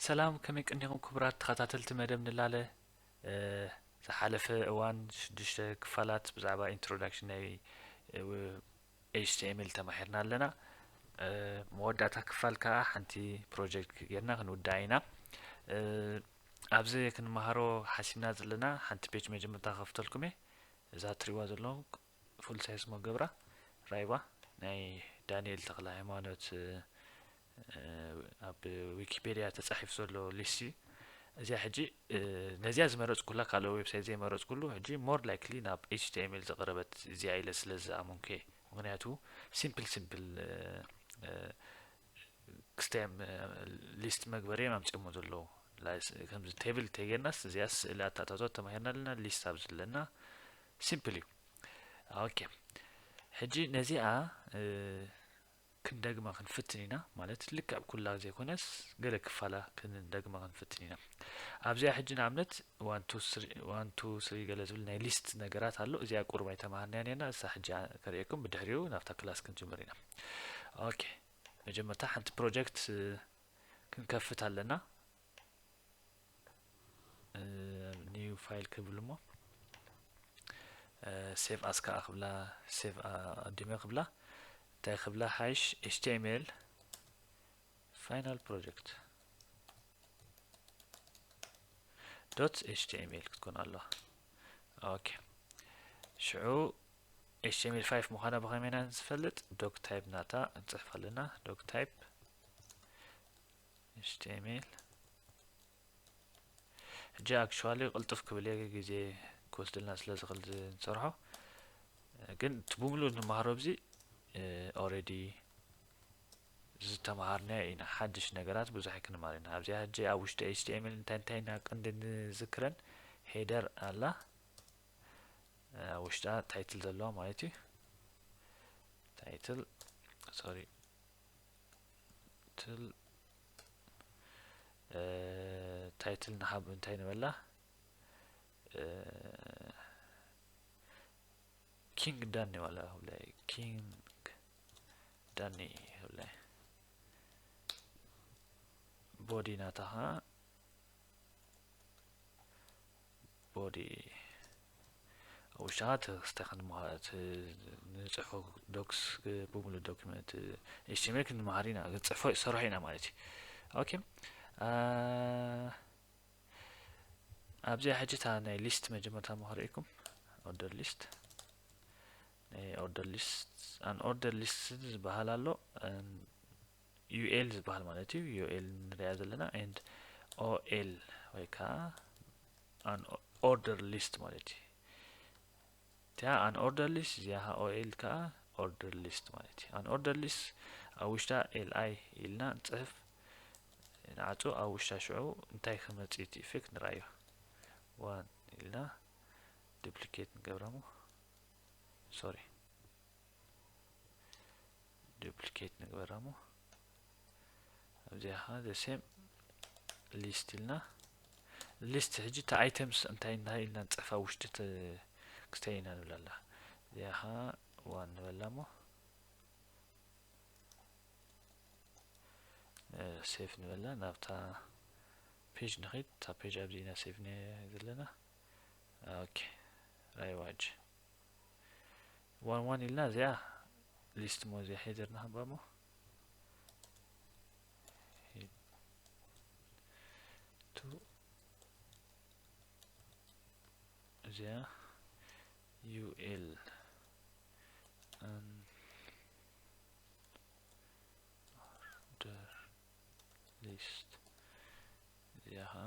ሰላም ከመይ ቀኒኹም ክቡራት ተኸታተልቲ መደብ ንላለ ዝሓለፈ እዋን ሽዱሽተ ክፋላት ብዛዕባ ኢንትሮዳክሽን ናይ ኤችቲኤምኤል ተማሂርና ኣለና መወዳእታ ክፋል ከዓ ሓንቲ ፕሮጀክት ጌርና ክንውዳእ ኢና ኣብዚ ክንመሃሮ ሓሲብና ዘለና ሓንቲ ፔጅ መጀመርታ ከፍተልኩም እየ እዛ ትሪእዋ ዘለኹም ፉልሳይ ስሞ ገብራ ራይባ ናይ ዳኒኤል ተክለሃይማኖት ኣብ ዊኪፔድያ ተጻሒፉ ዘሎ ሊስት እዚኣ ሕጂ ነዚኣ ዝመረጽኩላ ካልኦ ዌብሳይት ዘይመረጽኩሉ ሕጂ ሞር ላይክሊ ናብ ኤችቲኤምኤል ዝቐረበት እዚኣ ኢለ ስለ ዝኣመንኩ እየ ምክንያቱ ሲምፕል ሲምፕል ክስታይ ሊስት መግበሪ እዮም ኣምፂኦሞ ዘለዉ ከምዚ ቴብል ተጌርናስ እዚኣ ስእሊ ኣታታቶ ተማሂርና ኣለና ሊስት ኣብ ዘለና ሲምፕል እዩ ኦኬ ሕጂ ነዚኣ ክንደግማ ክንፍትን ኢና ማለት ልክዕ ኩላ ዘይኮነስ ገለ ክፋላ ክንደግማ ክንፍትን ኢና ኣብዚኣ ሕጂ ንኣብነት ዋን ቱ ስሪ ገለ ዝብል ናይ ሊስት ነገራት ኣሎ እዚኣ ቁርብ ኣይተማሃርናያ ነርና እሳ ሕጂ ከርእየኩም ብድሕሪኡ ናብታ ክላስ ክንጅምር ኢና ኦኬ መጀመርታ ሓንቲ ፕሮጀክት ክንከፍት ኣለና ኒው ፋይል ክብል እሞ ሴቭ ኣስ ከዓ ክብላ ሴቭ ኣዲመ ክብላ እንታይ ክብላ ሓይሽ ኤችቲኤምኤል ፋይናል ፕሮጀክት ዶት ኤችቲኤምኤል ክትኮን ኣለዋ ኦኬ ሽዑ html 5 ምዃና ብኸመይ ኢና ዝፈልጥ ዶክ ታይፕ ናታ ንፅሕፍ ኣለና ዶክ ታይፕ html ሕጂ ኣክቹዋሊ ቅልጡፍ ክብል እየ ግዜ ክወስደልና ስለ ዝኽእል ንሰርሖ ግን እቲ ብምሉእ ንመሃሮ ብዚ ኦረዲ ዝተመሃርናዮ ኢና ሓድሽ ነገራት ብዙሕ ኣይክንማር ኢና ኣብዚኣ ሕጂ ኣብ ውሽጢ ኤችቲኤምኤል እንታይ እንታይ ኢና ቅንዲ ንዝክረን ሄደር ኣላ ውሽጣ ታይትል ዘለዋ ማለት እዩ ታይትል ሶሪ ትል ታይትል ንሃብ እንታይ ንበላ ኪንግ ዳን ይባላል ኪንግ ዳኒ ይብለ ቦዲ ናታ ከዓ ቦዲ ኣብ ውሽጢ ከዓ ተክስታይ ክንመሃር ንፅሕፎ ዶክስ ብምሉእ ዶክመንት ኤችቲኤምኤል ክንመሃር ኢና ክንፅሕፎ ሰራሕ ኢና ማለት እዩ ኦኬ ኣብዚኣ ሕጂ እታ ናይ ሊስት መጀመርታ መሃሪኢኩም ኦርደር ሊስት ናይ ኦርደር ሊስት ኣን ኦርደር ሊስት ዝበሃል ኣሎ ዩኤል ዝበሃል ማለት እዩ ዩኤል ንሪኣ ዘለና ኤንድ ኦኤል ወይ ከዓ ኣን ኦርደር ሊስት ማለት እዩ እቲኣ ኣን ኦርደር ሊስት እዚኣ ከዓ ኦኤል ከዓ ኦርደር ሊስት ማለት እዩ ኣን ኦርደር ሊስት ኣብ ውሽጣ ኤልኣይ ኢልና ንፅሕፍ ንዓፁ ኣብ ውሽጣ ሽዑ እንታይ ክመፅእ እቲ ኢፌክት ንርኣዮ ዋን ኢልና ዱፕሊኬት ንገብረሞ ሶሪ ዱፕሊኬት ንግበራ እሞ ኣብዚኣ ከዓ ዘሴም ሊስት ኢልና ሊስት ሕጂ እቲ ኣይተምስ እንታይ እንታይ ኢልና ንፅሕፋ ውሽጢ ክስተይ ኢና ንብላ ኣላ እዚኣ ከዓ ዋን ንበላ እሞ ሴፍ ንበላ ናብታ ፔጅ ንኸይድ እታ ፔጅ ኣብዚ ኢና ሴፍ ዘለና ኦኬ ራይዋጅ ዋን ዋን ኢልና እዚኣ ሊስት ሞ እዚኣ ሄደር ንሃባ ሞ ቱ እዚኣ ዩኤል ኦርደር ሊስት እዚኣ ከዓ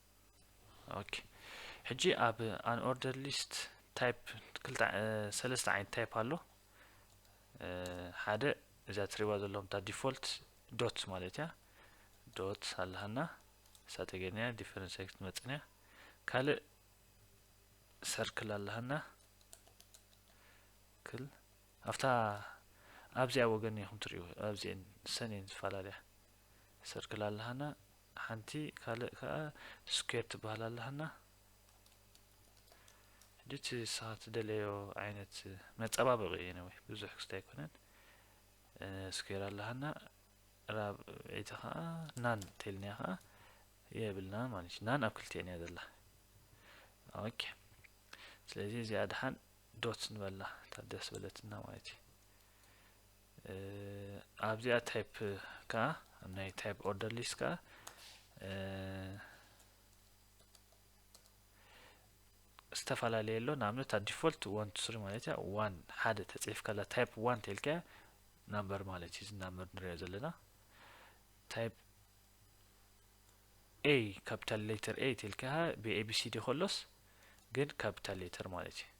ኦኬ ሕጂ ኣብ ኣን ኦርደር ሊስት ታይፕ ክልተ ሰለስተ ዓይነት ታይፕ ኣሎ ሓደ እዛ ትሪባ ዘለኹም እታ ዲፎልት ዶት ማለት እያ ዶት ኣለሃና እሳ ተገድንያ ዲፈረንስ ኤክስ ትመፅንያ ካልእ ሰርክል ኣለሃና ክል ኣብታ ኣብዚኣ ወገን ኢኹም ትሪኡ ኣብዚአን ሰኔን ዝፈላለያ ሰርክል ኣለሃና ሓንቲ ካልእ ከኣ ስኩዌር ትበሃል ኣላትና ሕጂ እቲ ንስኻ ትደለዮ ዓይነት መጸባበቂ እዩ ነወይ ብዙሕ ክስተ ኣይኮነን ስኩዌር ኣላሃና ራብዒቲ ከኣ ናን ተልኒያ ከኣ የብልና ማለት እዩ ናን ኣብ ክልቲኤን እያ ዘላ ኦኬ ስለዚ እዚኣ ድሓን ዶት ንበላ ታደስ በለትና ማለት እዩ ኣብዚኣ ታይፕ ከኣ ናይ ታይፕ ኦርደር ሊስት ከኣ ዝተፈላለየ ኣሎ ንኣብነት ኣብ ዲፎልት ዋን ቱ ስሪ ማለት እያ ዋን ሓደ ተፅሒፍካላ ታይፕ ዋን ተልካያ ናምበር ማለት እዩ እዚ ናምበር ንሪኦ ዘለና ታይፕ ኤ ካፒታል ሌተር ኤ ተልካያ ብኤቢሲዲ ከሎስ ግን ካፒታል ሌተር ማለት እዩ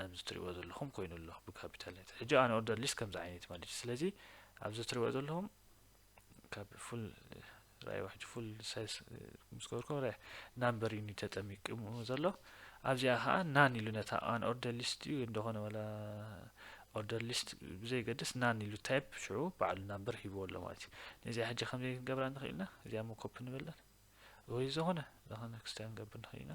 ኣዚ ትሪእዎ ዘለኹም ኮይኑ ኣሎ ብካፒታል ሌተር ሕጂ ኣን ኦርደር ሊስት ከምዚ ዓይነት እዩ ማለት እዩ ስለዚ ኣብዚ ትሪእዎ ዘለኹም ካብ ፉል ራእይዎ ሕጂ ፉል ሳይዝ ምስ ገበርኩም ረ ናምበር ዩኒ ተጠሚቅሙ ዘሎ ኣብዚኣ ከዓ ናን ኢሉ ነታ ኣን ኦርደር ሊስት እዩ እንደኾነ ወላ ኦርደር ሊስት ብዘይገድስ ናን ኢሉ ታይፕ ሽዑ በዓሉ ናምበር ሂብዎ ኣሎ ማለት እዩ ነዚኣ ሕጂ ከምዘይ ክንገብራ ንኽእል ኢና እዚኣ ሞ ኮፒ ንበለን ወይ ዝኾነ ዝኾነ ክስታ ክንገብር ንኽእል ኢና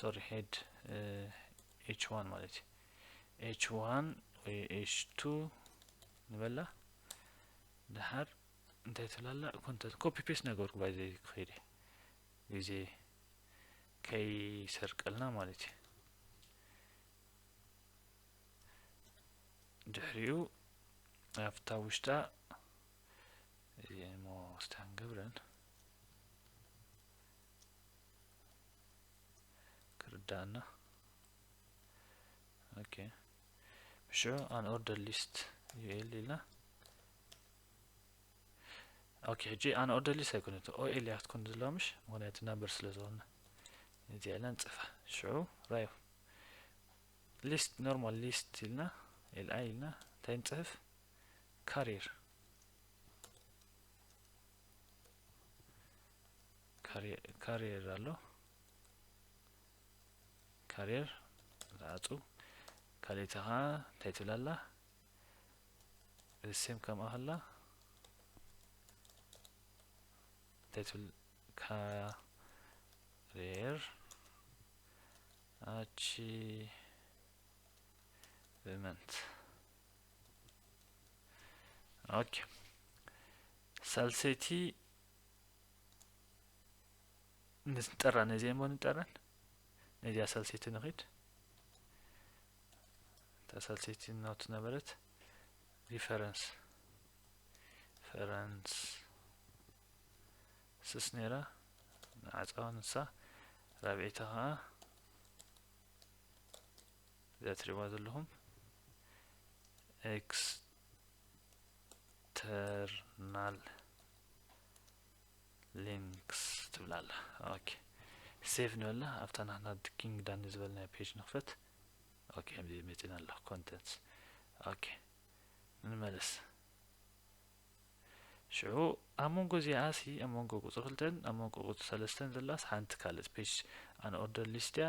ሶሪ ሄድ ኤች ዋን ማለት እዩ ኤች ዋን ወይ ኤች ቱ ንበላ ድሓር እንታይ ትላላ ኮንተንት ኮፒ ፔስት ነገርኩ ባይዘ ክኸይደ ግዜ ከይሰርቀልና ማለት እዩ ድሕሪኡ ኣብታ ውሽጣ እዚ ሞ ስታንገብረን ክርዳኣና ኦኬ ብሽዑ ኣን ኦርደር ሊስት ዩኤል ኢልና ኦኬ ሕጂ ኣን ኦርደር ሊስት ኣይኮነት ኦኤል እያ ክትኮን ዘለዋ ምሽ ምክንያቱ ናምበር ስለ ዝኾነ እዚ ኢልና ንፅፋ ሽዑ ራዩ ሊስት ኖርማል ሊስት ኢልና ኤልኣይ ኢልና እንታይ ንፅህፍ ካሪር ካሪየር ኣሎ ካሪየር ዝዓፁ ካልእቲ ከዓ እንታይ ትብል ኣላ ሴም ከምኣ ከላ እንታይ ትብል ካሪየር ኣቺቭመንት ኦኬ ሳልሰይቲ ንጠራ ነዚኣ እሞ ንጠረን ነዚኣ ሳልሰይቲ ንኺድ እታ ሳልሰይቲ ናቱ ነበረት ሪፈረንስ ሪፈረንስ ስስ ነይራ ንዓፃዋ ንሳ ራብዒታ ከዓ እዚኣ ትሪእዋ ዘለኹም ኤክስተርናል ሊንክስ ትብል ኣላ ኦኬ ሴቭ ንበላ ኣብታ ናትና ኪንግ ዳኒ ዝበልናዮ ፔጅ ንኽፈት ኦኬ ከምዚ መፂና ኣሎ ኮንተንትስ ኦኬ ንመለስ ሽዑ ኣብ መንጎ እዚኣ ሲ ኣብ መንጎ ቁፅሪ ክልተን ኣብ መንጎ ቁፅሪ ሰለስተን ዘላስ ሓንቲ ካልእ ፔጅ ኣን ኦርደር ሊስት እያ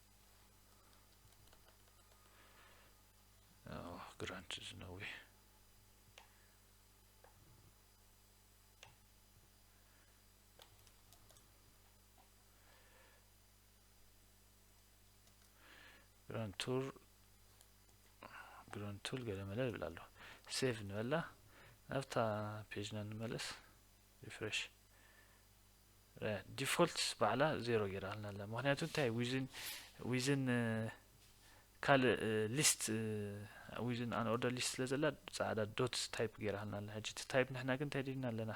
ግራንት ዝነዊሕ ግራንድ ቱር ግራንድ ቱር ገለ መለ ይብል ኣሎ ሴቭ ንበላ ናብታ ፔጅና ንመለስ ሪፍሬሽ ዲፎልትስ ባዕላ ዜሮ ጌራልና ኣላ ምክንያቱ እንታይ ዊዝን ዊዝን ካልእ ሊስት ዊዝን ኣን ኦርደር ሊስት ስለ ዘላ ጻዕዳ ዶት ታይፕ ጌራልና ኣላ ሕጂ እቲ ታይፕ ንሕና ግን እንታይ ድና ኣለና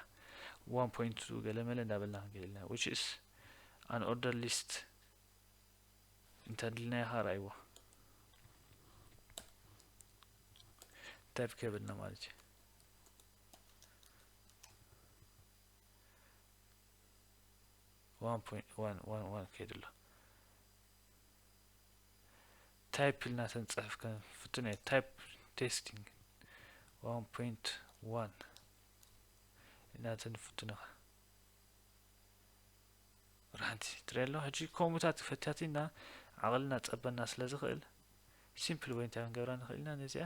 ዋን ፖይንት ገለመለ እንዳበልና ክንከይድ ኢልና ዊች ኢስ ኣን ኦርደር ሊስት እንተድልናዮ ኸ ርኣይዎ ታይፕ ከብልና ማለት እዩ ዋን ፖይንት ዋን ዋን ዋን ከይዱ ኣሎ ታይፕ ኢልና ስንፅሕፍ ክንፍትን እዩ ታይፕ ቴስቲንግ ዋን ፖይንት ዋን ኢና ትንፍትን ኢኻ ራንቲ ትሪኦ ኣሎ ሕጂ ከምኡታት ፈታቲና ዓቕልና ፀበና ስለ ዝኽእል ሲምፕል ወይ እንታይ ክንገብራ ንኽእል ኢና ነዚኣ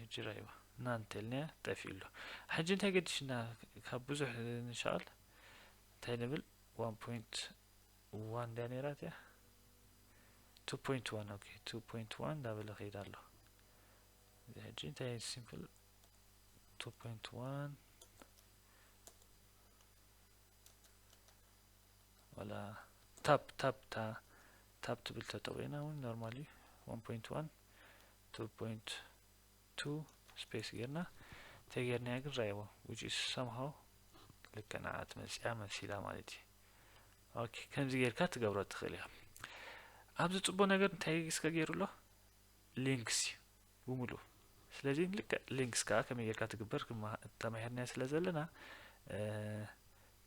ሕጂ ራይዋ እና እንተልናያ ጠፊኡ ኣሎ ሕጂ እንታይ ገዲሽና ካብ ብዙሕ ንሻል እንታይ ንብል ዋን ፖይንት ዋን ድያ ነይራ እቲያ ቱ ፖይንት ዋን ኦኬ ቱ ፖይንት ዋን እንዳበለ ከይድ ኣሎ እዚ ሕጂ እንታይ ሲምፕል ቱ ፖይንት ዋን ዋላ ታፕ ታፕ እታ ታፕ ትብል ተጠቂና እውን ኖርማል እዩ ዋን ፖይንት ዋን ቱ ፖይንት ቱ ስፔስ ጌርና ተጌርናያ ግን ራይዎ ውጭ ሰምሃው ልክ ንዓ ትመፅያ መሲላ ማለት እዩ ኦኬ ከምዚ ጌርካ ትገብሮ ትኽእል እያ ኣብዚ ፅቡቅ ነገር እንታይ እስከ ገይሩ ኣሎ ሊንክስ እዩ ብሙሉ ስለዚ ልክዕ ሊንክስ ከኣ ከመይ ጌርካ ትግበር ተማሂርናዮ ስለ ዘለና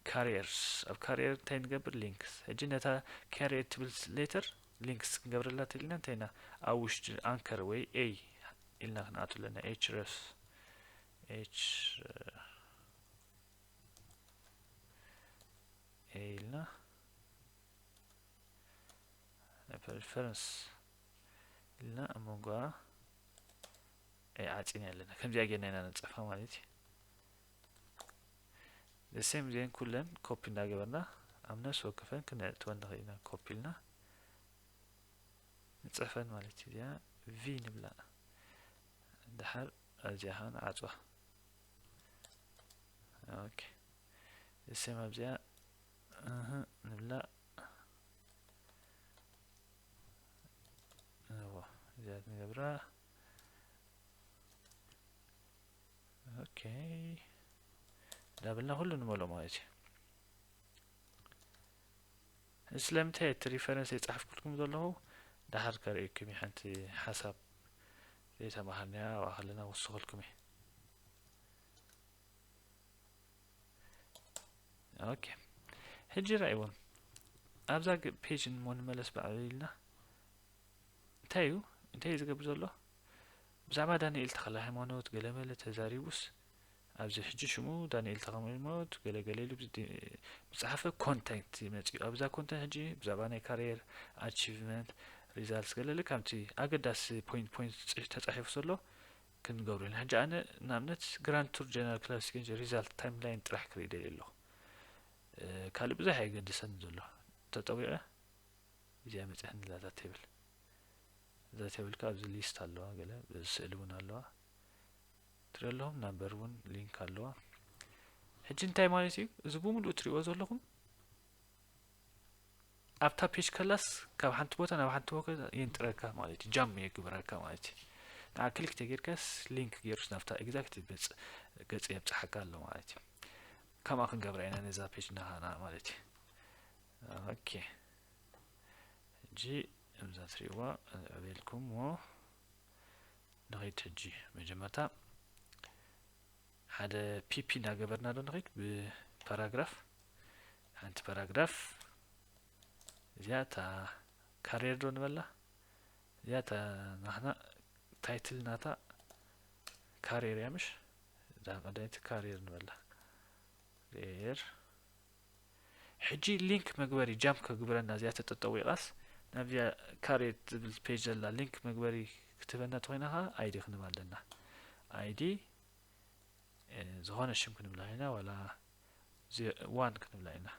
ካሪየርስ ኣብ ካሪየር እንታይ ንገብር ሊንክስ ሕጂ ነታ ካሪየር ትብል ሌተር ሊንክስ ክንገብረላ ትልና እንታይ ኢና ኣብ ውሽጢ ኣንከር ወይ ኤይ ኢልና ክንኣቱ ኣለና ኤች ረስ ኤች ኤይ ኢልና ፐሪፈረንስ ኢልና ኣብ መንጎኣ ዓፂና ኣለና ከምዚኣ ጌርና ኢና ነንፀፋ ማለት እዩ ዘሴም ዜን ኩለን ኮፒ እንዳገበርና ኣብ ነፍሲ ወከፈን ክነእትወን ንኽእል ኢና ኮፒ ኢልና ንፅሕፈን ማለት እዩ እዚኣ ቪ ንብላ ድሓር ኣብዚኣ ከዓ ንዓፅዋ ኦኬ ዘሴም ኣብዚኣ ንብላ እዎ እዚኣ ንገብራ ኦኬ ዳብልና ኩሉ ንመልኦ ማለት እዩ ስለምንታይ እቲ ሪፈረንስ የጻሕፍኩልኩም ዘለኹ ድሓር ከርእየኩም እዩ ሓንቲ ሓሳብ ዘይተማሃርናያ ኣብኣ ከለና ወስኸልኩም እዩ ኦኬ ሕጂ ራእይዎም ኣብዛ ፔጅ እሞ ንመለስ በዕሉ ኢልና እንታይ እዩ እንታይ እዩ ዝገብር ዘሎ ብዛዕባ ዳንኤል ተኸለ ሃይማኖት ገለመለ ተዛሪቡስ ኣብዚ ሕጂ ሽሙ ዳንኤል ተኸለ ሃይማኖት ገለገለ ኢሉ ብዝፀሓፈ ኮንተንት ይመፅኡ ኣብዛ ኮንተንት ሕጂ ብዛዕባ ናይ ካሪየር ኣቺቭመንት ሪዛልት ገለለ ካብቲ ኣገዳሲ ፖይንት ፖይንት ተፃሒፉ ዘሎ ክንገብሮ ኢና ሕጂ ኣነ ንኣብነት ግራንድ ቱር ጀነራል ክላሲክ ሪዛልት ታይም ላይን ጥራሕ ክርኢ ደልየ ኣለኹ ካልእ ብዙሕ ኣየገድሰኒ ዘሎ ተጠዊቐ እዚኣ መፅያ ንላ እዛ ቴብል እዛ ቴብል ከ ኣብዚ ሊስት ኣለዋ ገለ ስእሊ እውን ኣለዋ ትሪኦ ኣለኹም ናምበር እውን ሊንክ ኣለዋ ሕጂ እንታይ ማለት እዩ እዚ ብምሉእ ትሪእዎ ዘለኹም ኣብታ ፔጅ ከላስ ካብ ሓንቲ ቦታ ናብ ሓንቲ ቦታ የንጥረካ ማለት እዩ ጃም የግብረካ ማለት እዩ ንዓ ክሊክ ተጌርካስ ሊንክ ገይሩስ ናብታ ኤግዛክት ገጽ የብጽሓካ ኣሎ ማለት እዩ ከምኣ ክንገብራ ኢና ነዛ ፔጅ ናሃና ማለት እዩ ኦኬ ሕጂ እዛ ትሪእዋ ኣበልኩምዎ ንኸይድ ሕጂ መጀመርታ ሓደ ፒፒ እንዳገበርና ዶ ንኸይድ ብፓራግራፍ ሓንቲ ፓራግራፍ እዚኣ እታ ካሪየር ዶ ንበላ እዚኣ እታ ናትና ታይትል ናታ ካሪየር እያ ምሽ እዛ ቀዳይቲ ካሪየር ንበላ ር ሕጂ ሊንክ መግበሪ ጃምፕ ከግብረና እዚኣ ተጠጠዊቓስ ናብዚኣ ካሬት ዝብል ፔጅ ዘላ ሊንክ መግበሪ ክትህበና ተኮይና ከዓ ኣይዲ ክንህባ ኣለና ኣይዲ ዝኾነ ሽም ክንብላ ኢና ዋላ ዋን ክንብላ ኢና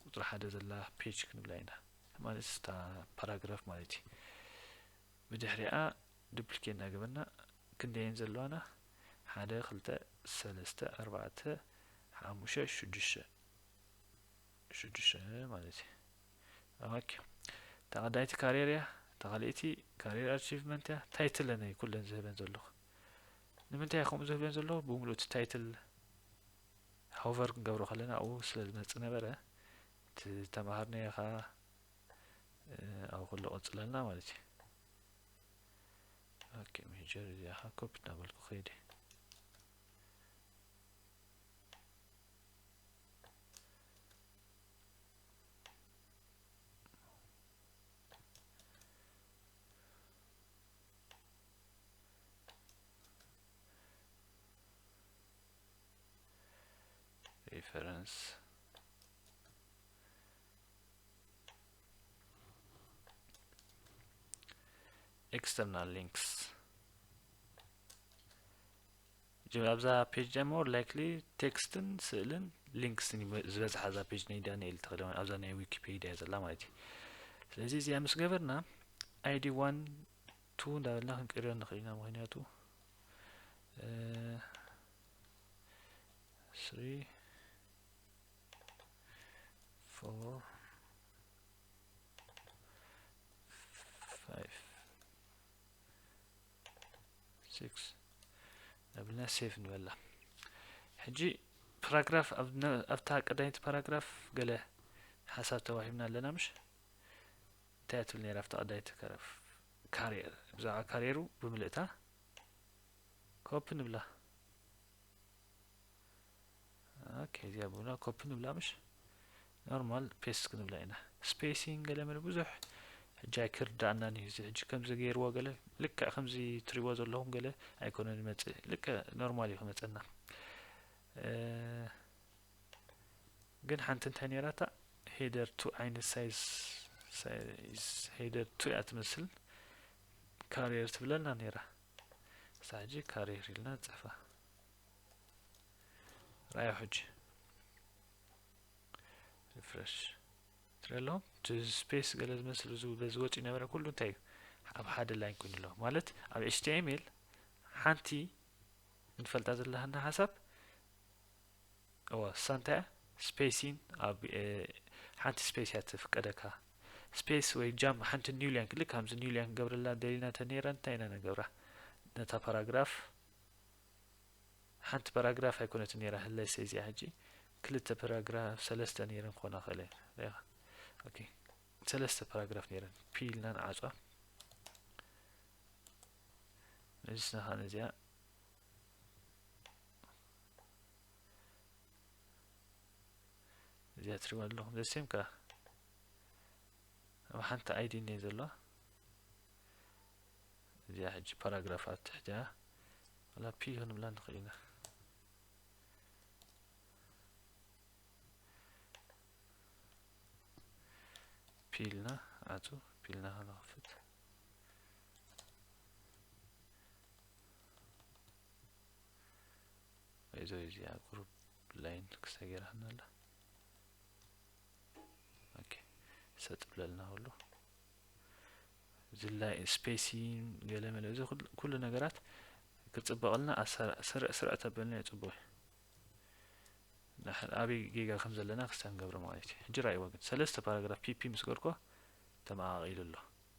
ቁፅሪ ሓደ ዘላ ፔጅ ክንብላ ኢና ማለት ስታ ፓራግራፍ ማለት እዩ ብድሕሪኣ ዱፕሊኬት እናገበርና ክንደየን ዘለዋና ሓደ ክልተ ሰለስተ ኣርባዕተ ሓሙሸ ሽዱሽተ ሽዱሽተ ማለት እዩ ኦኬ ተቐዳይቲ ካሪየር እያ ተኻልእቲ ካሪየር ኣቺቭመንት እያ ታይትለን እዩ ኩለን ዝህበን ዘለኹ ንምንታይ እዩ ከምኡ ዝብለን ዘሎ ብምሉእ እቲ ታይትል ሆቨር ክንገብሮ ከለና ኣብኡ ስለ ዝመጽእ ነበረ እቲ ተማሃርናዮ ከዓ ኣብኡ ከሎ ቀጽለና ማለት እዩ ኦኬ ሜጀር እዚኣ ከዓ ኮፒ እናበልኩ ከይደ ሪፈረንስ ኤክስተርናል ሊንክስ ኣብዛ ፔጅ ዲኣ ሞር ላይክሊ ቴክስትን ስእልን ሊንክስን ዝበዝሓ እዛ ፔጅ ናይ ዳንኤል ተኽለ ኣብዛ ናይ ዊኪፔዲያ ዘላ ማለት እዩ ስለዚ እዚኣ ምስ ገበርና ኣይዲ ዋን ቱ እንዳበልና ክንቅይሮ ንክእል ኢና ምክንያቱ ስሪ ፎር ፋይቭ ሲክስ ናብልና ሴፍ ንበላ ሕጂ ፓራግራፍ ኣብታ ቀዳሚት ፓራግራፍ ገለ ሓሳብ ተዋሂብና ኣለና ምሽ እንታይ ትብል ነይራ ኣብቲ ቀዳይ ተከረፍ ካርየር ብዛዕባ ካርየሩ ብምልእታ ኮፒ ንብላ ኦኬ እዚኣ ብና ኮፒ ንብላ ምሽ ኖርማል ፔስት ክንብላ ኢና ስፔሲንግ ገለ መለ ብዙሕ ሕጂ ኣይክርዳእናን እዩ እዚ ሕጂ ከምዚ ገይርዎ ገለ ልክዕ ከምዚ ትሪዎ ዘለኹም ገለ ኣይኮነን ይመፅእ ልክዕ ኖርማል እዩ ክመፀና ግን ሓንቲ እንታይ ነይራታ ሄደር ቱ ዓይነት ሳይዝ ሄደር ቱ እያ ትመስል ካሪየር ትብለና ነይራ እሳ ሕጂ ካሪየር ኢልና ንፅሕፋ ራዮ ሕጂ ሪፍረሽ ትረሎ ስፔስ ገለ ዝመስል በዚ ወፂ ነበረ ኩሉ እንታይ እዩ ኣብ ሓደ ላይን ኮይኑ ኣሎ ማለት ኣብ ኤችቲኤምኤል ሓንቲ ንፈልጣ ዘለሃና ሓሳብ እወ እሳ እንታይ እያ ስፔሲን ኣብ ሓንቲ ስፔስ እያ ትፍቀደካ ስፔስ ወይ ጃም ሓንቲ ኒው ላይን ልክ ከምዚ ኒው ላይን ክገብረላ ደሊና ተነይረ እንታይ ኢና ንገብራ ነታ ፓራግራፍ ሓንቲ ፓራግራፍ ኣይኮነት ነይራ ህለሰ እዚኣ ሕጂ ክልተ ፓራግራፍ ሰለስተ ነይረን ክኾና ክእለ ኢኻ ኦኬ ሰለስተ ፓራግራፍ ነይረን ፒ ኢልና ንዓፅዋ ነዚስና ከዓ ነዚኣ እዚኣ ትሪእዋ ዘለኹም ዘሴም ከዓ ኣብ ሓንቲ ኣይዲ እኒየ ዘለዋ እዚኣ ሕጂ ፓራግራፍ ኣብ ትሕቲያ ዋላ ፒ ክንብላ ንኽእል ኢና ፒልና ኣቱ ፒልና ክንኸፍት እዞ እዚኣ ግሩፕ ላይን ክስተ ገይራትና ኣላ ኦኬ ሰጥ ብለልና ኩሉ እዚ ላይ ስፔሲ ገለ መለ እዚ ኩሉ ነገራት ክፅበቐልና ስርዕ ስርዕ ተበልና እዩ ፅቡቅ እዩ ኣበይ ጌጋ ከም ዘለና ክስተ ንገብረ ማለት እዩ ሕጂ ራእይዎ ግን ሰለስተ ፓራግራፍ ፒፒ ምስ ገርኮ ተመቃቂሉ ኣሎ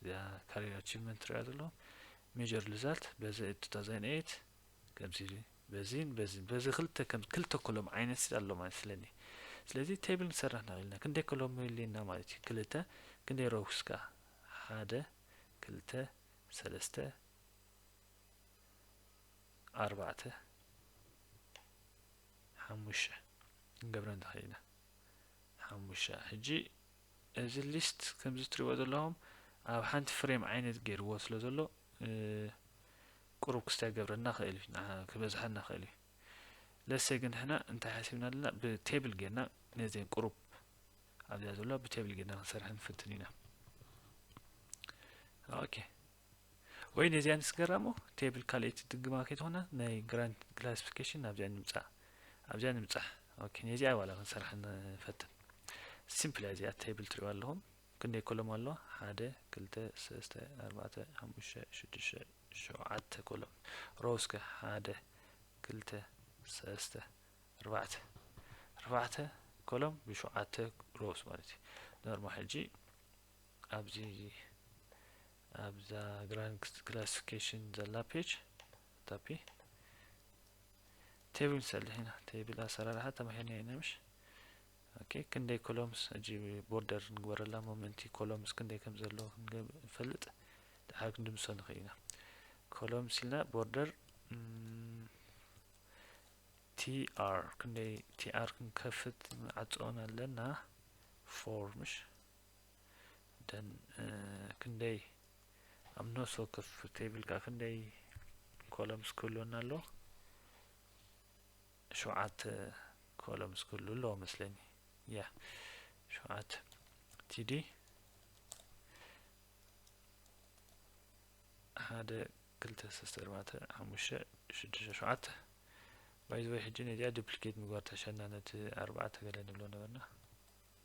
እዚኣ ካሪር ኣቺቭመንት ትረኣ ዘሎ ሜጀር ሪዛልት በዚ እብ 2008 ከምዚ በዚን በዚን በዚ ክልተ ከም ክልተ ኮሎም ዓይነት ኣሎ ማለት ስለኒ ስለዚ ቴብል ንሰራሕ ናልና ክንደይ ኮሎም የድልየና ማለት እዩ ክልተ ክንደይ ሮውስ ከ ሓደ ክልተ ሰለስተ ኣርባዕተ ሓሙሽተ ክንገብረን ንኽእል ኢና ሓሙሽተ ሕጂ እዚ ሊስት ከምዚ ትሪእዎ ዘለኹም ኣብ ሓንቲ ፍሬም ዓይነት ገይርዎ ስለ ዘሎ ቁሩብ ክስታይ ክገብረና ክእል እዩ ክበዝሓና ክእል እዩ ለሰ ግን ሕና እንታይ ሓሲብና ኣለና ብቴብል ጌርና ነዘን ቁሩብ ኣብዚኣ ዘሎ ብቴብል ጌርና ክንሰርሐን ፍትን ኢና ኦኬ ወይኔ እዚኣ ንስገራሞ ቴብል ካልኤቲ ድግማ ከይትኾና ናይ ግራንት ክላሲፊኬሽን ኣብዚኣ ንምጻእ ኣብዚኣ ንምጻሕ ኦኬ ነዚኣ ዋላ ክንሰርሓ ንፈትን ሲምፕል እያ እዚኣ ቴብል ትሪኡ ኣለኹም ክንደይ ኮሎም ኣለዋ ሓደ ክልተ ሰለስተ ኣርባዕተ ሓሙሽተ ሽዱሽተ ሸውዓተ ኮሎም ሮስከ ሓደ ክልተ ሰለስተ ኣርባዕተ ኣርባዕተ ኮሎም ብሸውዓተ ሮስ ማለት እዩ ኖርማ ሕጂ ኣብዚ ኣብዛ ግራንክስ ክላሲፊኬሽን ዘላ ፔጅ ታፒ ቴብል ንሰርሕ ኢና ቴብል ኣሰራርሓ ተማሂርና ኢና ምሽ ኦኬ ክንደይ ኮሎምስ እጂ ቦርደር ንግበረላ ሞመንቲ ኮሎምስ ክንደይ ከም ዘለዎ ክንፈልጥ ድሓር ክንድምሶ ንኽእል ኢና ኮሎምስ ኢልና ቦርደር ቲኣር ክንደይ ቲኣር ክንከፍት ንዓፅኦን ኣለና ፎር ምሽ ደን ክንደይ ኣብ ነፍሲ ወከፍ ቴብል ከዓ ክንደይ ኮለምስ ክህልወና ኣሎ ሸውዓተ ኮለምስ ክህሉ ኣለዎ መስለኝ ያ ሸውዓተ ቲዲ ሓደ ክልተ ሰለስተ ኣርባዕተ ሓሙሽተ ሽዱሽተ ሸውዓተ ባይዘወይ ሕጂ ነዚኣ ዱፕሊኬት ምግባር ተሸና ነቲ ኣርባዕተ ገለ ንብሎ ነበርና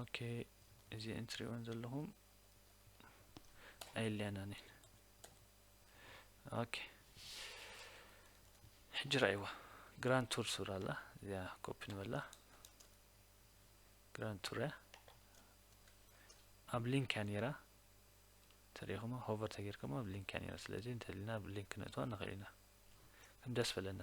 ኦኬ እዚ እንትሪእዎን ዘለኹም ኣየለያናን እየን ኦኬ ሕጂ ረኣይዋ ግራንድ ቱር ሱር ኣላ እዚኣ ኮፒ ንበላ ግራንድ ቱር እያ ኣብ ሊንክ እያ ነይራ ተሪኢኹማ ሆቨር ተጌርኩም ኣብ ሊንክ እያ ነይራ ስለዚ እንተልና ኣብ ሊንክ ነእትዋ ንኽእል ኢና ከም ደስ በለና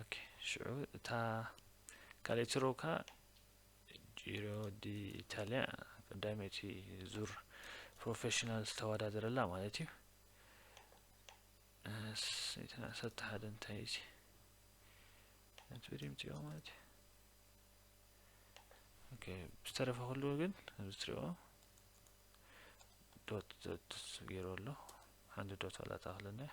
ኦኬ ሽዑ እታ ካልኣይቲ ሮው ከኣ ጂሮ ዲ ኢታልያ ቀዳመይቲ ዙር ፕሮፌሽናል ዝተወዳደረላ ማለት እዩ ዓሰርተ ሓደ እንታይ እዩ ነትብሪም ፅኦ ማለት እዩ ኦኬ ዝተረፈ ኩሉ ግን ኣብዚ ትሪኦ ዶት ዶት ገይሩ ኣሎ ሓንቲ ዶት ዋላ ተኣኽለና እያ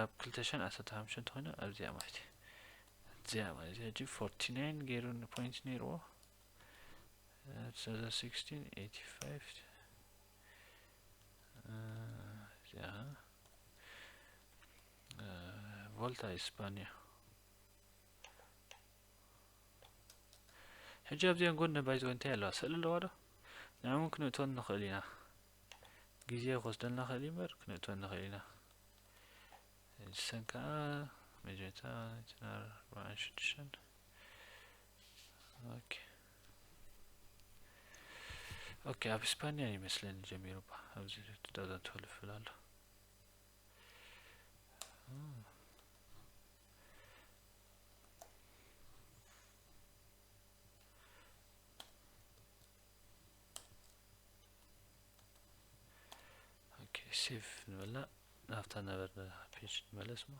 ኣብ ክልተ ሽሕን ዓሰርተ ሓሙሽተን ተኾይና ኣብዚኣ ማለት እዩ እዚኣ ማለት እዚኣ ሕጂ ፎርቲ ናይን ገይሩ ፖይንት ነይርዎ ሰዛ ሲክስቲን ኤይቲ ፋይቭ እዚኣ ቮልታ ኢስፓንያ ሕጂ ኣብዚኣን ጎኒ ባይዘወ እንታይ ኣለዋ ስእሊ ኣለዋ ዶ ንዕውን ክንእቶን ንኽእል ኢና ግዜ ክወስደልና ይኽእል እዩ እምበር ክንእትወን ንኽእል ኢና ንሰን ከዓ መጀመርታ እተን ኣርባዓን ሽዱሽተን ኦኬ ኦኬ ኣብ ስፓኒያ ይመስለኒ ጀሚሩ ባ ኣብዚ ዳዳን ትፈልፍል ኣሎ ሴቭ ንበላ ናብታ ነበርና ፔጅ ንመለስ ሞ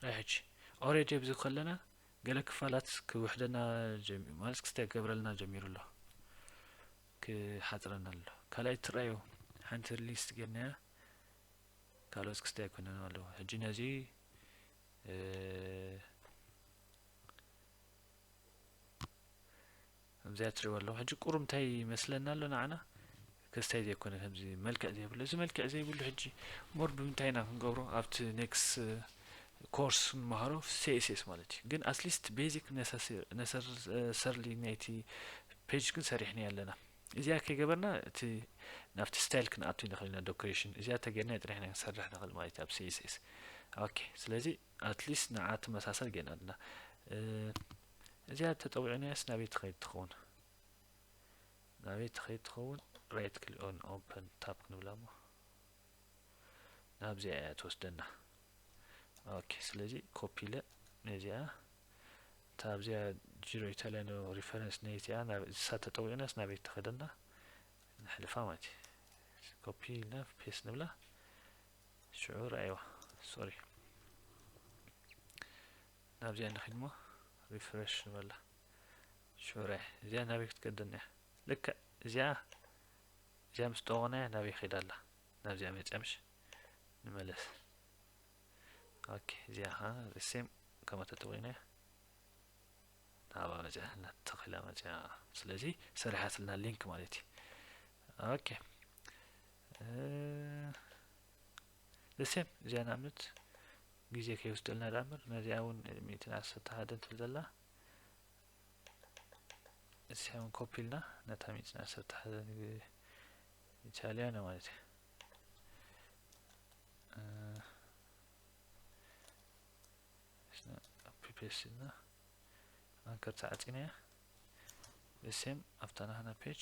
ራይ ሕጂ ኦሬዲ ኣብዚ ከለና ገለ ክፋላት ክውሕደና ማለት ክስታይ ገብረልና ጀሚሩ ኣሎ ክሓፅረና ኣሎ ካልኣይ ትረኣዩ ሓንቲ ሊስት ጌርናያ ካልኦት ክስታይ ኣይኮነን ኣለዎ ሕጂ ነዚ ከምዚኣ ትሪእዋ ኣለኹም ሕጂ ቁሩብ እንታይ ይመስለና ኣሎ ንዓና ከስታይ ዘይኮነ ከምዚ መልክዕ ዘይብሉ እዚ መልክዕ ዘይብሉ ሕጂ ሞር ብምንታይ ኢና ክንገብሮ ኣብቲ ኔክስ ኮርስ ንመሃሮ ሲኤስኤስ ማለት እዩ ግን ኣትሊስት ቤዚክ ነሰርሊ ናይቲ ፔጅ ግን ሰሪሕና ኣለና እዚኣ ከይገበርና እቲ ናብቲ ስታይል ክንኣቱ ንኽእል ኢና ዶኮሬሽን እዚኣ ተገይርና ጥራሕ ኢና ክንሰርሕ ንኽእል ማለት እዩ ኣብ ሲኤስኤስ ኦኬ ስለዚ ኣትሊስት ንዓ ትመሳሰል ጌና ኣላ እዚኣ ተጠዊዕናያስ ናበይ ትኸይድ ትኸውን ናበይ ትኸይድ ትኸውን ራይት ክሊ ኦን ኦፕን ታፕ ክንብላ እሞ ናብዚኣ እያ ትወስደና ኦኬ ስለዚ ኮፒ ለ ነዚኣ እታ ኣብዚኣ ጂሮ ኢታሊያኖ ሪፈረንስ ነዚኣ ናብ እሳ ተጠዊዕናስ ናበይ ትኸደና ንሕልፋ ማለት እዩ ኮፒ ኢልና ፔስ ንብላ ሽዑ ረኣይዋ ሶሪ ናብዚኣ ንኺድ እሞ ሪፍረሽ ንበላ ሽዑ ረኣይ እዚኣ ናበይ ክትገደና እያ ልክዕ እዚኣ እዚኣ ምስ ጠወቕናያ ናበይ ኺዳ ኣላ ናብዚኣ መፅያ ምሽ ንመለስ ኦኬ እዚኣ ኸ ሪሴም ከምኣ ተጠዊናያ ናብኣ መፅያ ናተኺላ መፅያ ስለዚ ሰሪሓትልና ሊንክ ማለት እዩ ኦኬ እሴም እዚኣ ንኣብነት ግዜ ከይወስደልና ደኣ እምበር ነዚኣ እውን ሚእትን ዓሰርተ ሓደን ትብል ዘላ እዚኣ እውን ኮፒ ኢልና ነታ ሚእትን ዓሰርተ ሓደን ኢታልያና ማለት እዩ ፒፔስ ኢልና ኣንከር ተዓፂና እያ እሴም ኣብታ ናህና ፔጅ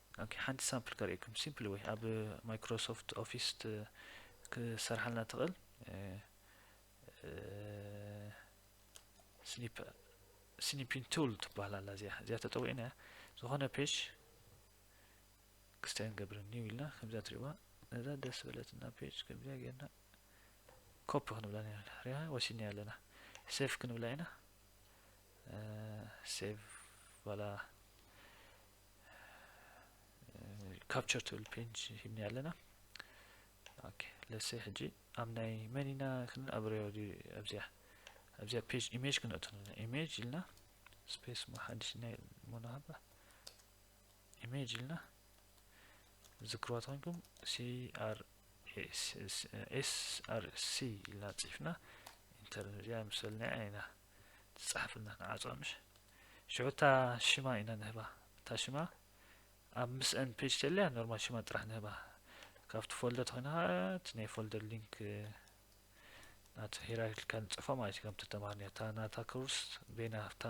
ኦኬ ሓንቲ ሳምፕል ከርእየኩም ሲምፕል ወይ ኣብ ማይክሮሶፍት ኦፊስ ክሰርሓልና ትኽእል ስኒፕ ስኒፒን ቱል ትበሃል ኣላ እዚኣ እዚኣ ተጠዊዕና እያ ዝኾነ ፔጅ ክስተይ ንገብር ኒው ኢልና ከምዚኣ ትሪእዋ ነዛ ደስ በለትና ፔጅ ከምዚኣ ጌርና ኮፒ ክንብላ ሪያ ወሲድና ኣለና ሴቭ ክንብላ ኢና ሴቭ ባላ ካፕቸር ትብል ፔጅ ሂብኒ ኣለና ኦኬ ለሰ ሕጂ ኣብ ናይ መን ኢና ክንኣብርዮ ኣብዚያ ኣብዚያ ፔጅ ኢሜጅ ክንእቱ ኣለና ኢሜጅ ኢልና ስፔስ ሞ ሓድሽ ናይ ሞናሃባ ኢሜጅ ኢልና ዝክርዋ ተኮንኩም ሲኣርኤስኣርሲ ኢልና ፅሒፍና ኢንተር እዚኣ ምሰልና ኢና ትጽሓፈልና ንዓጽዋ ምሽ ሽዑ እታ ሽማ ኢና ንህባ እታ ሽማ ኣብ ምስእን ፔጅ ተልያ ኖርማል ሽማ ጥራሕ ንህባ ካብቲ ፎልደር ተኮይና ከኣ እቲ ናይ ፎልደር ሊንክ ናቱ ሄራርኪካል ንጽፎ ማለት እዩ ከምቲ ተማሃርኒ እታ ናታ ኮርስ ቤና ኣብታ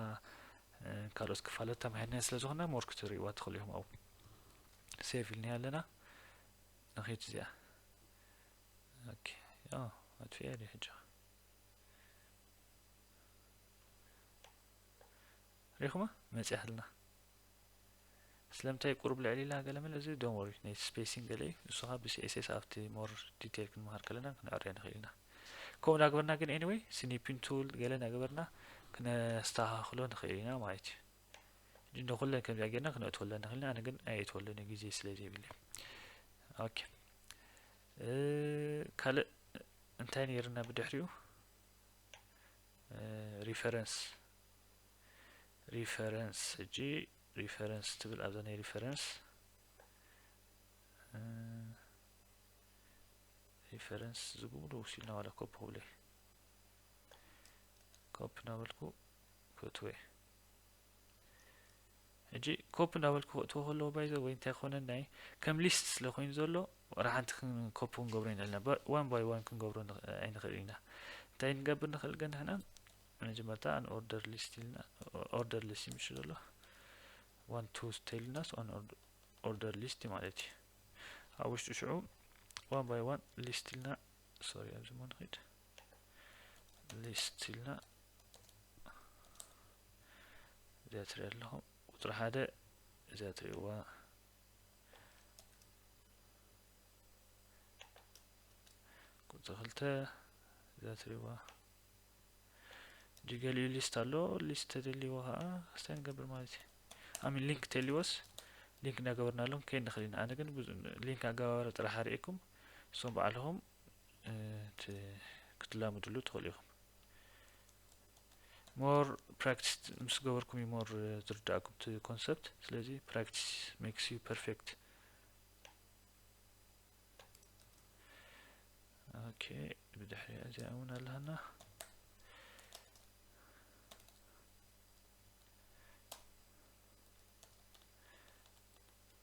ካልኦት ክፋለት ተማሂርና ስለ ዝኾና ሞር ክትርእይዋ ትኽእሉ ኢኹም ኣብኡ ሴቭ ኢልና ኣለና ንኺድ እዚኣ ኦኬ ኣጥፊኣ ሕጂ ሪኹማ መጽያትና ስለምንታይ ቁሩብ ልዕል ኢላ ገለ መለ እዚ ዶን ወሪ ነቲ ስፔሲንግ ገለ እዩ ንሱ ኸዓ ብሲኤስኤስ ኣብቲ ሞር ዲቴል ክንመሃር ከለና ክንዕርዮ ንኽእል ኢና ከምኡ እናገበርና ግን ኤኒወይ ስኒፒን ቱል ገለ እናገበርና ክነስተኻኽሎ ንኽእል ኢና ማለት እዩ ንኩለን ከምዚኣ ጌርና ክነእትወለን ንኽእል ኢና ኣነ ግን ኣየእትወለን እዩ ግዜ ስለ ዘይብለ ኦኬ ካልእ እንታይ ነይርና ብድሕሪኡ ሪፈረንስ ሪፈረንስ ሕጂ ሪፈረንስ ትብል ኣብዛ ናይ ሪፈረንስ ሪፈረንስ ዝብሉ ውሲልና ዋላ ኮፒ ክብለ ኮፒ ናበልኩ ክትወ ሕጂ ኮፒ እንዳበልኩ ክእትዎ ከለዎ ባይዘ ወይ እንታይ ኮነ ናይ ከም ሊስት ስለ ኮይኑ ዘሎ ወላ ሓንቲ ኮፒ ክንገብሮ ይንእልና ዋን ባይ ዋን ክንገብሮ ኣይንኽእል ኢና እንታይ ንገብር ንኽእል ግን ንሕና መጀመርታ ኣን ኦርደር ሊስት ኢልና ኦርደር ሊስት ይምሽ ዘሎ ዋን ቱ ተይልናስ ኣን ኦርደር ሊስት ማለት እዩ ኣብ ውሽጡ ሽዑ ዋን ባይ ዋን ሊስት ኢልና ሶሪ ኣብዚ ሞ ንኽድ ሊስት ኢልና እዚኣ ትርኢ ኣለኹም ቁፅሪ ሓደ እዚኣ ትርእዋ ቁፅሪ ክልተ እዚኣ ትርእዋ ጅገሊኡ ሊስት ኣሎ ሊስት ተደልዎ ከዓ ክስታይ ንገብር ማለት እዩ ኣሚን ሊንክ ተልዎስ ሊንክ እናገበርናሎም ከይድ ንኽእል ኢና ኣነ ግን ሊንክ ኣገባባሪ ጥራሕ ኣርእኩም እሶም በዓልኹም ክትላምድሉ ትኽእሉ ኢኹም ሞር ፕራክቲስ ምስ ገበርኩም እዩ ሞር ዝርዳእኩም እቲ ኮንሰፕት ስለዚ ፕራክቲስ ሜክስ ዩ ፐርፌክት ኦኬ ብድሕሪ እዚኣ እውን ኣለሃና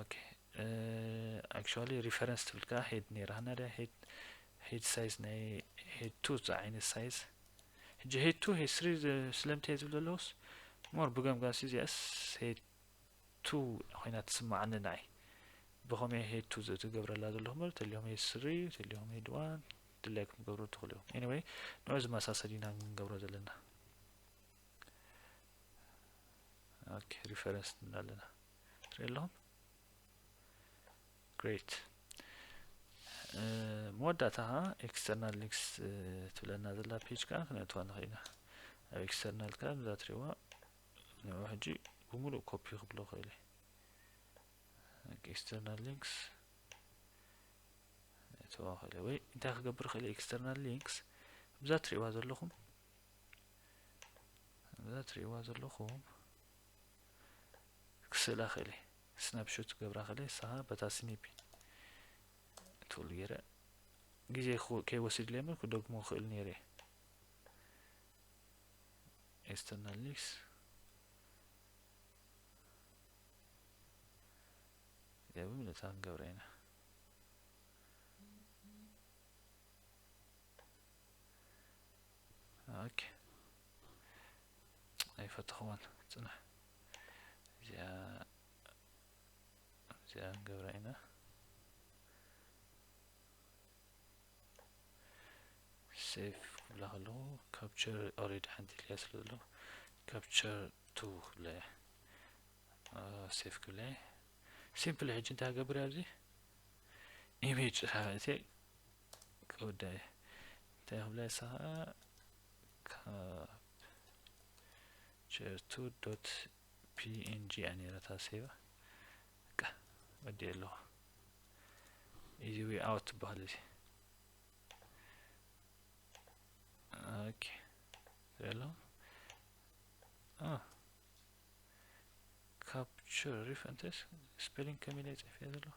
ኦኬ ኣክቹዋሊ ሪፈረንስ ትብል ከኣ ሄድ ነይራ ናደ ሄድ ሄድ ሳይዝ ናይ ሄድ ቱ ዝዓይነት ሳይዝ ሕጂ ሄድ ቱ ሄድ ስሪ ስለምንታይ ዝብል ዘለኹስ ሞር ብገምጋሲ እዚኣስ ሄድ ቱ ኮይና ትስማዓኒ ንዓይ ብኸመይ ሄድ ቱ ዝገብረላ ዘለኹ በር ተሊኹም ሄድ ስሪ ተሊኹም ሄድ ዋን ድላይኩም ትገብሩ ትኽእሉ ኢኹም ኤኒወይ ንዑ ዝመሳሰል ኢና ንገብሮ ዘለና ኦኬ ሪፈረንስ ንብል ኣለና ትርኢ ኣለኹም ግሬት መወዳእታ ከዓ ኤክስተርናል ሊንክስ ትብለና ዘላ ፔጅ ከዓ ክነእትዋ ንኽእል ኢና ኣብ ኤክስተርናል ከዓ ብዛ ትሪእዋ ንዑ ሕጂ ብምሉእ ኮፒ ክብሎ ክእል ኤክስተርናል ሊንክስ እትዋ ክእል ወይ እንታይ ክገብር ክእል ኤክስተርናል ሊንክስ ብዛ ትሪእዋ ዘለኹም እዛ ትርእይዋ ዘለኹም ክስእላ ክእል እየ ስናፕሾት ገብራ ክእል እየ ንስኻ በታ ስኒፒ ትብሉ ገይረ ግዜ ከይወስድለይ እምበር ክደግሞ ክእል ነይረ እየ ኤስተርናል ሊክስ እዚኣ ብምልእታ ክንገብራ ኢና ኦኬ ኣይፈተኽዎን ፅናሕ እዚኣ እዚኣ ንገብራ ኢና ሴፍ ክብላ ከለኹ ካፕቸር ኦሬዲ ሓንቲ ኢልያ ስለ ዘለኹ ካፕቸር ቱ ክብላ እያ ሴፍ ክብላ እየ ሲምፕል ሕጂ እንታይ ገብር ኣብዚ ኢሜጅ ፅሓፈ ክውዳእ እየ እንታይ ክብላ እየ ሰከ ካብ ቸርቱ ዶት png እያ ነይረታ ሴቫ በቃ ወዲኤ ኣለኹ ኢዚ ዌይ ኣውት ትበሃል እዚ ኦኬ ዘሎ ካፕቸር ሪፈንተስ ስፔሊንግ ከመይ ኢለ ይፅሕፍ እየ ዘለኹ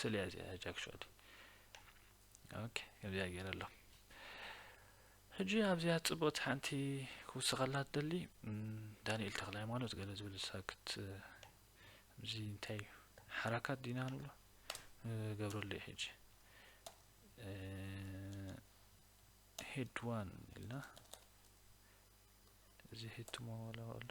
ስልያ እዚኣ ሕጂ ኣክቹዋሊ ኦኬ ከምዚኣ ገይረ ኣሎ ሕጂ ኣብዚኣ ጽብቕቲ ሓንቲ ክውስኸላ ትደሊ ዳንኤል ተክለ ሃይማኖት ገለ ዝብል ሳክት እዚ እንታይ እዩ ሓራካት ዲና ንብሎ ገብረሉ እዩ ሕጂ ሄድ ዋን ኢልና እዚ ሄድ ቱሞ ኣሎ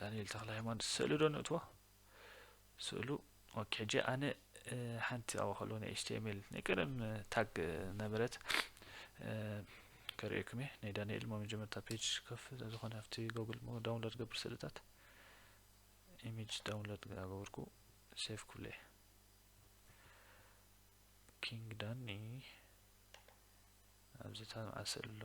ዳንኤል ተክለሃይማኖት ስእሉ ዶ ንእትዎ ስእሉ ኦኬ ሕጂ ኣነ ሓንቲ ኣብኡ ከለዎ ናይ ኤችቲኤምኤል ናይ ቀደም ታግ ነበረት ከርእየኩም እየ ናይ ዳንኤል ሞ መጀመርታ ፔጅ ከፍ ዝኾነ ኣብቲ ጎግል ሞ ዳውንሎድ ገብር ስእልታት ኢሜጅ ዳውንሎድ ገበርኩ ሴፍ ኩለ ኪንግ ዳኒ ኣብዚ ታልማዓ ስእሊ ኣሎ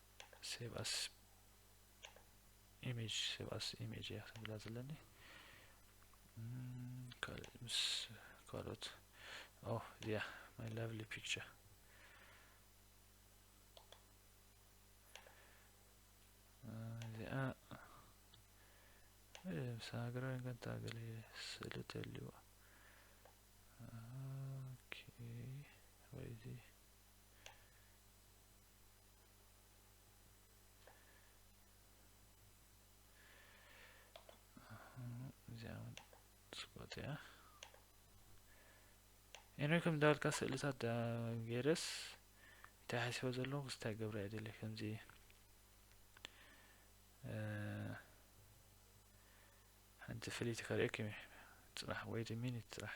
ሴቭ ኣስ ኢሜጅ ሴቭ ኣስ ኢሜጅ እያ ክትብላ ዘለኒ ካልእ ምስ ካልኦት ኦ እዚያ ማይ ላቭሊ ፒክቸር እዚኣ ምስ ሃገራዊ ገንታ ገለ ስእሊ ተልዋ ኦኬ ወይዚ እዚኣ ኤንሪ ከም ዳልካ ስእልታት ዳ ገይረስ እንታይ ሓሲቦ ዘለኹ ስታይ ገብረ እየ ደልየ ከምዚ ሓንቲ ፍልይቲ ከርእየኩም እዩ ፅናሕ ወይ ሚኒት ፅራሕ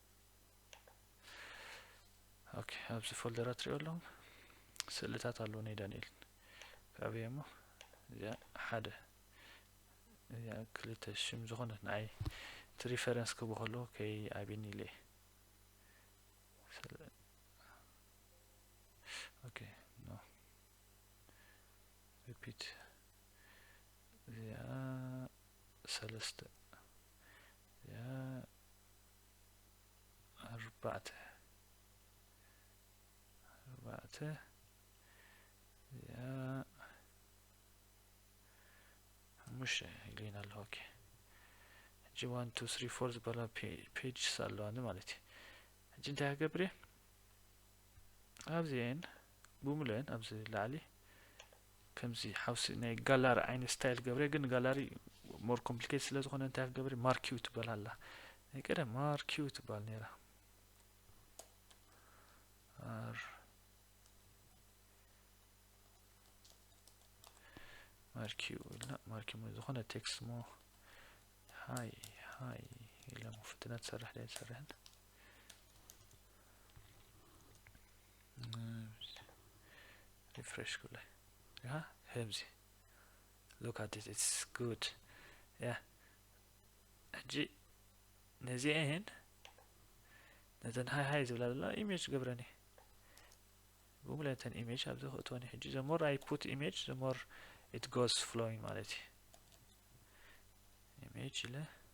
ኦኬ ኣብዚ ፎልደር ኣትሪኦ ኣለኹም ስእልታት ኣለዎ ናይ ዳንኤል ካብየ እሞ እዚኣ ሓደ እዚኣ ክልተ ሽም ዝኾነ ንዓይ እቲ ሪፈረንስ ክቦ ከለዎ ከይ ኣብኒ ኢለ ኦኬ ኖ ሪፒት እዚኣ ሰለስተ እዚኣ ኣርባዕተ ኣርባዕተ እዚኣ ሓሙሽተ ኢሉና ኣሎ ኦኬ ሕጂ ዋን ቱ ስሪ ፎር ዝበላ ፔጅስ ኣለዋኒ ማለት እዩ ሕጂ እንታይ ክገብር እየ ኣብዚኤን ብሙሉኤን ኣብዚ ላዕሊ ከምዚ ሓውሲ ናይ ጋላሪ ዓይነት ስታይል ገብረ ግን ጋላሪ ሞር ኮምፕሊኬት ስለ ዝኾነ እንታይ ክገብሪ ማርኪው ትበል ኣላ ናይ ቀደም ማርኪው ትበሃል ነይራ ኣር ማርኪው ኢልና ማርኪው ዝኾነ ቴክስት ሞ ሃይ ሃይ ኢለ ፍትነት ሰርሕ ዳይ ሰርሕን ሪፍሬሽ ኩለ ከምዚ ሎክ ኣት ኢትስ ጉድ ያ ሕጂ ነዚአን ነተን ሃይ ሃይ ዝብላ ዘላ ኢሜጅ ገብረን እየ ጉግል ነተን ኢሜጅ ኣብዚ ክእትወን ሕጂ ዘሞር ኣይ ፑት ኢሜጅ ዘሞር ኢት ጎስ ፍሎዊንግ ማለት እዩ ኢሜጅ ኢለ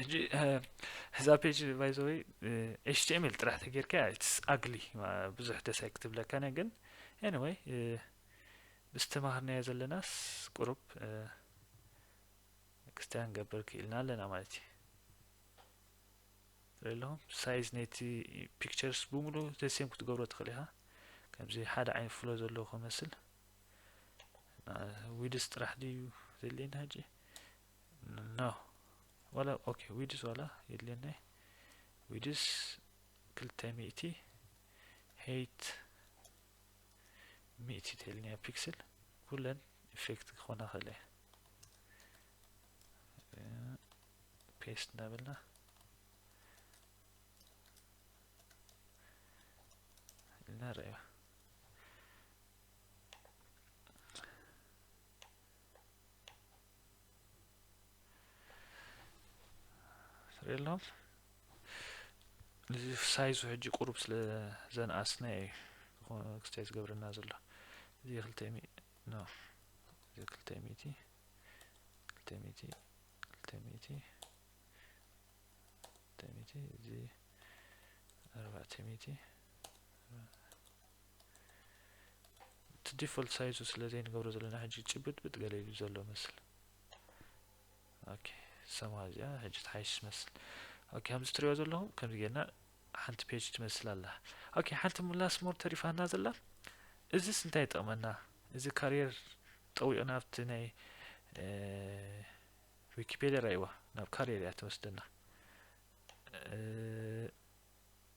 ሕጂ እዛ ፔጅ ባይዘወይ ኤችቲኤምኤል ጥራሕ ተጌርካ ኢትስ ኣግሊ ብዙሕ ደስ ኣይክትብለካነ ግን ኤኒወይ ምስ ተማሃርናዮ ዘለናስ ቁሩብ ክስቲያ ንገብር ክኢልና ኣለና ማለት እዩ ትርኢ ኣለኹም ሳይዝ ነቲ ፒክቸርስ ብምሉ ተሴም ክትገብሮ ትኽእል ኢኻ ከምዚ ሓደ ዓይነት ፍሎ ዘለዎ ክመስል ዊድስ ጥራሕ ድዩ ዘድልየና ሕጂ ኖ ዋላ ኦኬ ዊድስ ዋላ የድልየና ዊድስ ክልተ ሚእቲ ሄይት ሚእቲ ተልኒ ፒክስል ኩለን ኢፌክት ክኾና ክእለ ፔስት እናበልና ኢልና ርእያ የሎም እዚ ሳይዙ ሕጂ ቁሩብ ስለ ዘንኣስነ እዩ ዝኾነ ክስታይ ዝገብረና ዘሎ እዚ ክልተ ኖ እዚ ክልተ ሚእቲ ክልተ ሚእቲ ክልተ ሚእቲ ክልተ ሚእቲ እዚ ኣርባዕተ ሚእቲ እቲ ዲፎልት ሳይዙ ስለ ዘይንገብሮ ዘለና ሕጂ ጭብጥብጥ ገለ ኢሉ ዘሎ መስል ኦኬ ሰማ እዚኣ ሕጂ ትሓይሽ ትመስል ኦኬ ከምዚ ትሪኦ ዘለኹም ከምዚ ጌርና ሓንቲ ፔጅ ትመስል ኣላ ኦኬ ሓንቲ ሙላስ ሞር ተሪፋና ዘላ እዚስ እንታይ ይጠቕመና እዚ ካሪየር ጠዊቑ ናብቲ ናይ ዊኪፔድያ ራይዋ ናብ ካሪየር እያ ትወስደና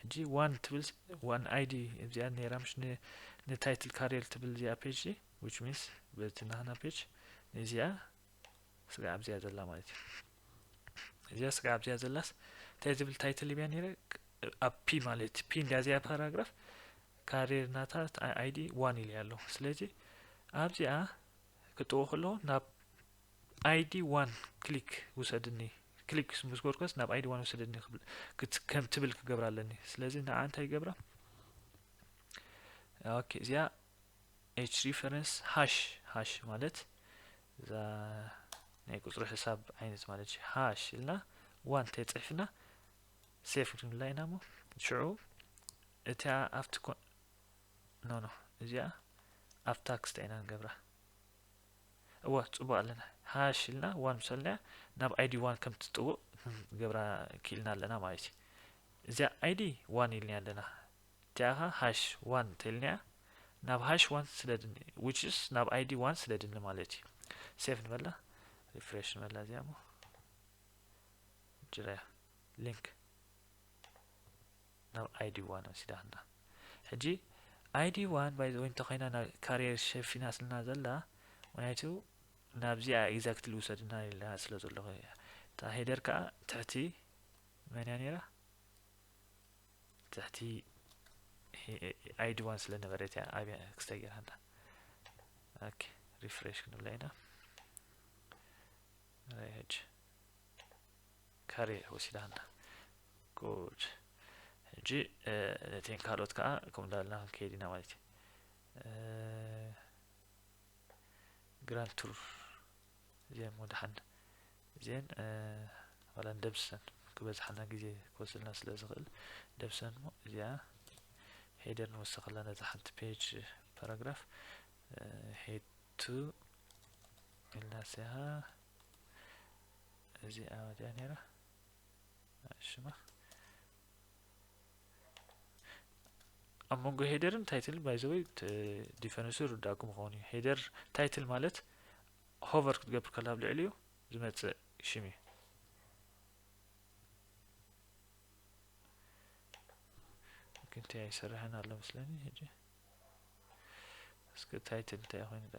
ሕጂ ዋን ትብል ዋን ኣይዲ እዚኣ ነይራ ምሽ ን ንታይትል ካርየር ትብል እዚኣ ፔጅ ሲ which means በቲ ናህና ፔጅ ንዚኣ ስጋዕ ኣብዚኣ ዘላ ማለት እዩ እዚኣ ስጋዕ ኣብዚኣ ዘላስ እንታይ ዝብል ታይትል ብያ ነይረ ኣብ ፒ ማለት ፒ እንዲያ እዚኣ ፓራግራፍ ካርየር ናታ ኣይዲ ዋን ኢልያ ኣለኹ ስለዚ ኣብዚኣ ክጥዎ ከለኹ ናብ ኣይዲ ዋን ክሊክ ውሰድኒ ክሊክ ምስ ጎርኮስ ናብ ኣይዲ ዋን ውሰደኒ ከም ትብል ክገብራ ኣለኒ ስለዚ ንዓ እንታይ ይገብራ ኦኬ እዚኣ ኤች ሪፈረንስ ሃሽ ሃሽ ማለት እዛ ናይ ቁፅሪ ሕሳብ ዓይነት ማለት እዩ ሃሽ ኢልና ዋን ተፅሒፍና ሴፍ ክንብላ ኢና እሞ ሽዑ እታ ኣብቲ ኖ ኖ እዚኣ ኣብ ታክስታ ኢና ንገብራ እወ ጽቡቅ ኣለና ሃሽ ኢልና ዋን ምስ በልናያ ናብ ኣይዲ ዋን ከም ትጽውእ ክንገብራ ክኢልና ኣለና ማለት እዩ እዚኣ ኣይዲ ዋን ኢልናያ ኣለና እቲኣ ከ ሃሽ ዋን እንተኢልናያ ናብ ሃሽ ዋን ስለድኒ ዊችስ ናብ ኣይዲ ዋን ስለድኒ ማለት እዩ ሴፍ ንበላ ሪፍሬሽ ንበላ እዚኣ ሞ ጅራያ ሊንክ ናብ ኣይዲ ዋን ወሲዳትና ሕጂ ኣይዲ ዋን ባይ ዘ ወይ እንተኮይና ናብ ካሪየር ሸፊናትና ዘላ ምክንያቱ ናብዚኣ ኤግዛክትሊ ውሰድና ኢላ ስለ ዘለኹ እያ እታ ሄደር ከዓ ትሕቲ መን እያ ነይራ ትሕቲ ኣይዲ ዋን ስለ ነበረት እያ ኣብያ ክስታይ ገይራና ኦኬ ሪፍሬሽ ክንብላ ኢና ራይጅ ካሬ ወሲዳ ኣላ good ሕጂ ነተን ካልኦት ከዓ ከምኡ እንዳበልና ክንከይድ ኢና ማለት እዩ ግራንድ ቱር እዚኣን ወድሓን እዚአን ዋላ ንደምስሰን ክበዝሓና ግዜ ክወስድና ስለ ዝኽእል ደምስሰን እሞ እዚኣ ሄደር ንወሰኸላ ነዛ ሓንቲ ፔጅ ፓራግራፍ ሄድ ቱ ኢልና ስያ እዚኣ መጺኣ ነይራ ሽማ ኣብ መንጎ ሄደርን ታይትል ባይዘወይ ዲፈረንሱ ርዳእኩም ይኸውን እዩ ሄደር ታይትል ማለት ሆቨር ክትገብር ከላ ኣብ ልዕሊ እዩ ዝመፅእ ሽም እዩ ክንቲ ኣይሰርሐን ኣሎ መስለኒ ሕጂ እስከ ታይትል እንታይ ኮይኑ ዳ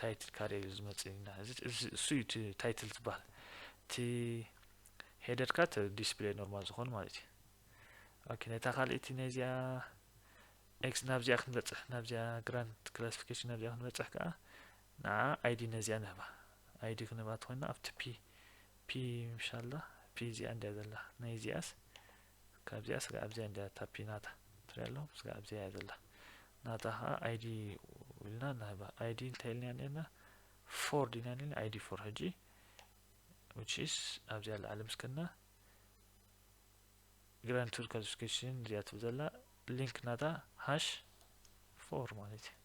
ታይትል ካደይ እዩ ዝመጽእ ኢና እዚ እዚ እሱ እዩ እቲ ታይትል ዝበሃል እቲ ሄደርካ እቲ ዲስፕሌይ ኖርማል ዝኾኑ ማለት እዩ ኦኬ ነታ ካልእቲ ነዚኣ ኤክስ ናብዚኣ ክንበጽሕ ናብዚኣ ግራንት ክላሲፊኬሽን ናብዚኣ ክንበጽሕ ከዓ ንዓ ኣይዲ ነዚኣ ንህባ ኣይዲ ክንህባ ትኾይና ኣብቲ ፒ ፒ ምሻላ ፒ እዚኣ እንዲያ ዘላ ናይ እዚኣስ ካብዚኣ ስጋዕ ኣብዚኣ እንድያ ታፒ ናታ ትሪኣ ኣለኹም ስጋዕ ኣብዚኣ እያ ዘላ ናታ ከዓ ኣይዲ ኢልና ንህባ ኣይዲ እንታይ ኢልናያ ነርና ፎር ዲና ነርና ኣይዲ ፎር ሕጂ which is ኣብዚኣ ላዕሊ ምስ ከድና ግራንድ ቱር ካልሲፊኬሽን እዚኣ ትብል ዘላ ሊንክ ናታ ሃሽ ፎር ማለት እዩ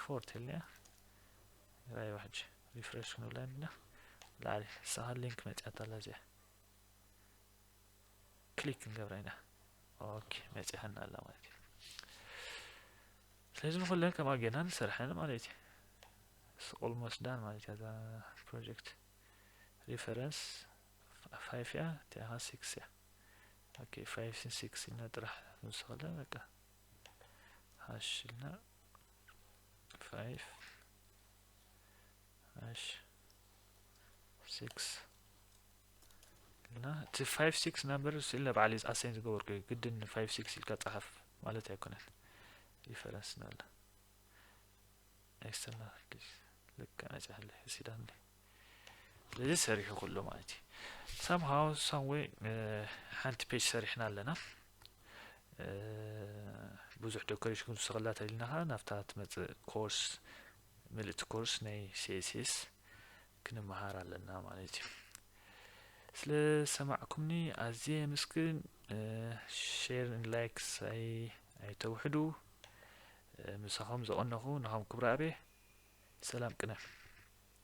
ፎር ተልኒያ ራይ ዋሕጂ ሪፍሬሽ ክንብላ ኢና ላዕሊ ሳኻ ሊንክ መፅያታ ኣላ እዚኣ ክሊክ ክንገብራ ኢና ኦኬ መጺኣና ኣላ ማለት እዩ ስለዚ ብኩለን ከምኣ ጌርና ንሰርሐን ማለት እዩ ኦልሞስት ዳን ማለት እያ እዛ ፕሮጀክት ሪፈረንስ ፋይፍ እያ እቲኣ ኸ ሲክስ እያ ኦኬ ፋይፍ ስን ሲክስ ኢልና ጥራሕ ንውስኸለ በቃ ሃሽ ኢልና ፋይፍ እሺ ስክስ እና እቲ ፋይቭ ሲክስ ናምበር እሱ ኢለ በዓል ኣሰይን ዝገበርኩ እዩ ግድን ፋይቭ ሲክስ ኢልካ ጸሓፍ ማለት ኣይኮነን ሪፈረንስ ናለ ኣይሰና ልክ ነጽሐለ ሲዳን ስለዚ ሰሪሑ ኩሉ ማለት እዩ ሰምሃው ሳምዌይ ሓንቲ ፔጅ ሰሪሕና ኣለና ብዙሕ ዶከሬሽን ክውስኸላ ተሊና ከዓ ናብታ ትመፅእ ኮርስ ምልእቲ ኮርስ ናይ css ክንመሃር ኣለና ማለት እዩ ስለ ሰማዕኩምኒ ኣዝየ የመስግን ሼር ን ላይክስ ኣይተውሕዱ ምሳኹም ዘቐነኹ ናኹም ክብረ ኣብየ ሰላም ቅነ